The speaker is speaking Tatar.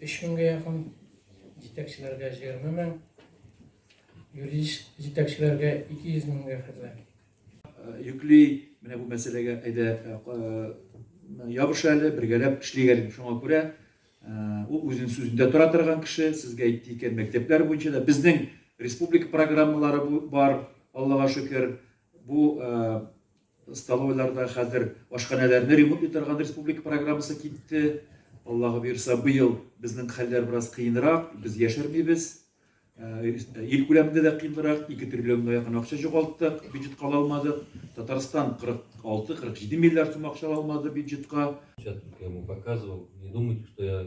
Өч меңгә якын җитәкчеләргә җыерма мең, юридик җитәкчеләргә ике йөз меңгә хәтле. Йөкли, менә бу мәсьәләгә әйдә ябыш әле, бергәләп эшлик әле. Шуңа күрә ул үзен сүзендә тора торган кеше, сезгә әйтте икән, мәктәпләр буенча да безнең республика программалары бар, Аллага шөкер. Бу Столовойларда хәзер ашханәләрне ремонт итә торган республика программасы китте. Аллага боерса, быел безнең хәлләр бераз кыенрак, без яшермибез. Ил күләмендә дә кыенрак, 2 триллионга якын акча җугалттык, бюджетка ала алмадык. Татарстан 46-47 миллиард сум акча ала алмады бюджетка. Чат итә, бу показывал, не думайте, что я